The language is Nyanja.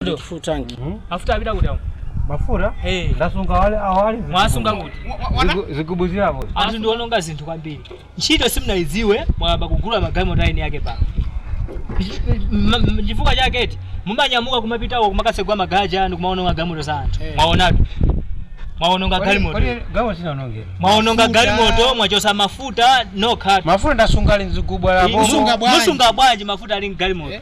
Ndo. full tank Mafuta apita kuti awo. mafuta Eh. ndasunga ali apa ali Mwasunga kuti. Zigu- zigubu zili apo Anthu ndiononga zinthu kwambiri. Ntchito simunayidziwe mwayamba kugula magalimoto a eni ake pano. M- m- Chifukwa chake eti mumanyamuka kumapitako kumakatsegula magalaja anu kumaononga galimoto za anthu. Eh. Mwaonatu. Mwaononga galimoto. galimoto sindinaononge Mwaononga Mafuta. galimoto mwachosa mafuta nokha. mafuta ndasunga ali mzigubu Musunga apo bwanji? Musunga bwanji mafuta ali mgalimoto. Eh.